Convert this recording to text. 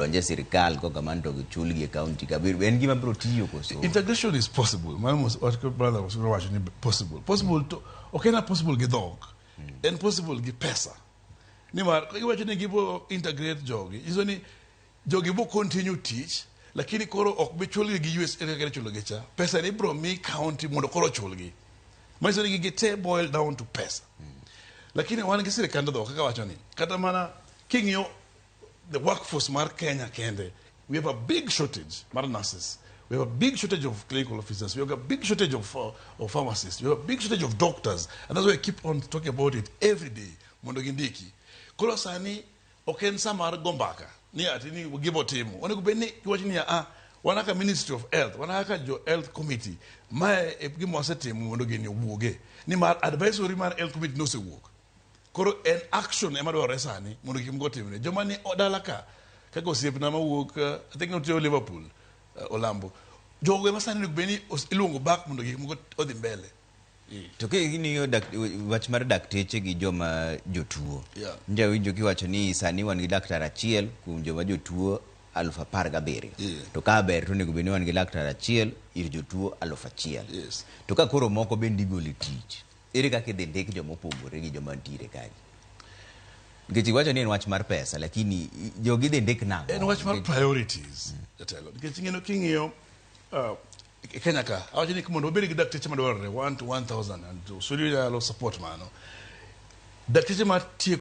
donj e sirkal koka man to gichulgi e kaunti ka biro en gima biro tiyo koso integration is possible mano mos wat ko brother was wacho ni possible possible to ok en possible gi dhok en possible gi pesa nimar ka giwacho ni gibo integrate jogi nyiso ni jogi bo continue tich lakini koro ok bi chulgi gi us kaka kere chulogi cha pesa ni bro mi county mondo koro chulgi manyiso ni gigi te boil down to pesa lakini wan gi sirikand dhok kaka wacho ni kata mana king'iyo the workforce mar Kenya kende, we have a big shortage mar nurses. We have a big shortage of clinical officers. We have a big shortage of, uh, of pharmacists. We have a big shortage of doctors. And that's why I keep on talking about it every day. Mondo gindiki. Koro sani ok en sa mar go mbaka ni ati ni gibo timo. Onego bed ni kiwacho ni ah wan kaka Ministry of Health, wan kaka jo Health Committee, mae e gima wasetimo mondo gini owuoge. Nimar advisory mar Health Committee nosewuok. koro en action ema dwarore sani mondo gik moko timre joma ni o- dala ka kaka osiepna mawuok eh, i think notiyo liverpool eh, olambo jogo ema sani onego bed ni os- iluongo back mondo gik moko odhi mbele to king'iyo dak- wach mar dakteche gi joma jotuo Yeah. njawinjo kiwacho ni sani wan gi daktar achiel kuom joma jotuo aluf apar gabiriyo Yeah. to ka ber to onego bed ni wan gi laktar achiel ir jotuo aluf achiel Yes. to ka koro moko bende igolo e tich Ere kaka idhi ndik joma opogore gi joma ntiere kagi? Nikech iwacho ni en wach mar pesa lakini i- jogi idhi ndik nang'o? en wach mar Nikech- priorities jatelo nikech ing'eno king'iyo uh, e kenya ka awacho ni mondo wabed gi dakteche madwarore 1 to 1000 and osuri nyalo support mano dakteche matieko